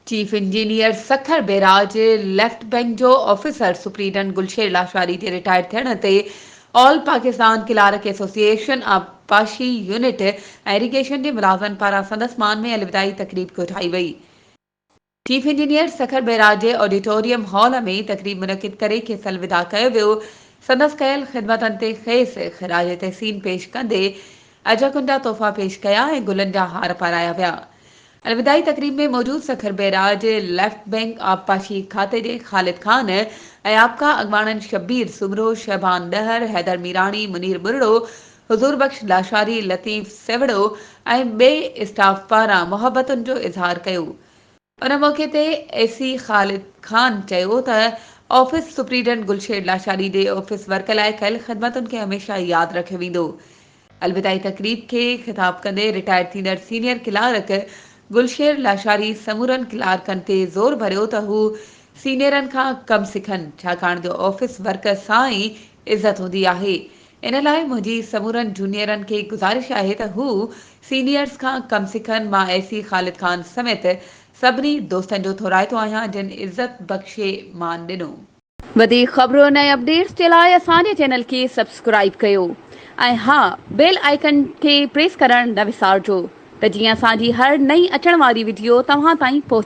Chief engineer Sukkur barrage, left bank جو officer superintendent Gulsher Lashari جي retire ٿيڻ تي آل پاڪستان ڪلارڪ ايسوسيئيشن آبپاشي يونٽ ۽ ايريگيشن جي ملازن پاران سندس مان ۾ الوداعي تقريب ڪوٺائي وئي. چيف انجنيئر سکر بئراج جي آڊيٽوريم هال ۾ تقريب منعقد ڪري کيس الوداع ڪيو ويو، سندس ڪيل خدمتن تي کيس خراج تحسين پيش ڪندي اجهڪن جا تحفا پيش ڪيا ۽ گلن جا هار پارايا ويا. الوداعي تقريب ۾ موجود سکر بئراج ليفٽ بئنڪ آبپاشي کاتي جي خالد خان ۽ آپڪا اڳواڻن شبير سومرو، شعبان ڏهر، حيدر ميراڻي، منير ٻرڙو، حضور بخش لاشاري، لطيف سيوڙو ۽ ٻئي اسٽاف پاران محبتن جو اظهار ڪيو. ان موقعي تي اي سي خالد خان چيو ته آفيس سپريڊنٽ گلشير لاشاري جي آفيس ورڪ لاء ڪيل خدمتن کي هميشه ياد رکيو ويندو. الوداعي تقريب کي خطاب ڪندي رٽائرڊ ٿيندڙ سينيئر ڪلارڪ گلشير لاشاري سمورن ڪلارڪن تي زور ڀريو ته هو سينيئرن کان ڪم سکن ڇاڪاڻ جو آفيس ورڪ سان ئي عزت هوندي آهي ان لاء منهنجي سمورن جونيئرن کي گذارش آهي ته هو سينيئرز کان ڪم سکن، مان اي سي خالد خان سميت سڀني دوستن جو ٿورائتو آهيان جن عزت بخشي مان ڏنو. وڌيڪ خبرن ۽ اپڊيٽس جي لاء اسان جي چينل کي سبسڪرائيب ڪيو ۽ ها بيل آئيڪن کي پريس ڪرڻ نه وسارجو ته جيئن اسان جي هر نئين اچڻ واري وڊيو توهان تائين پهچي.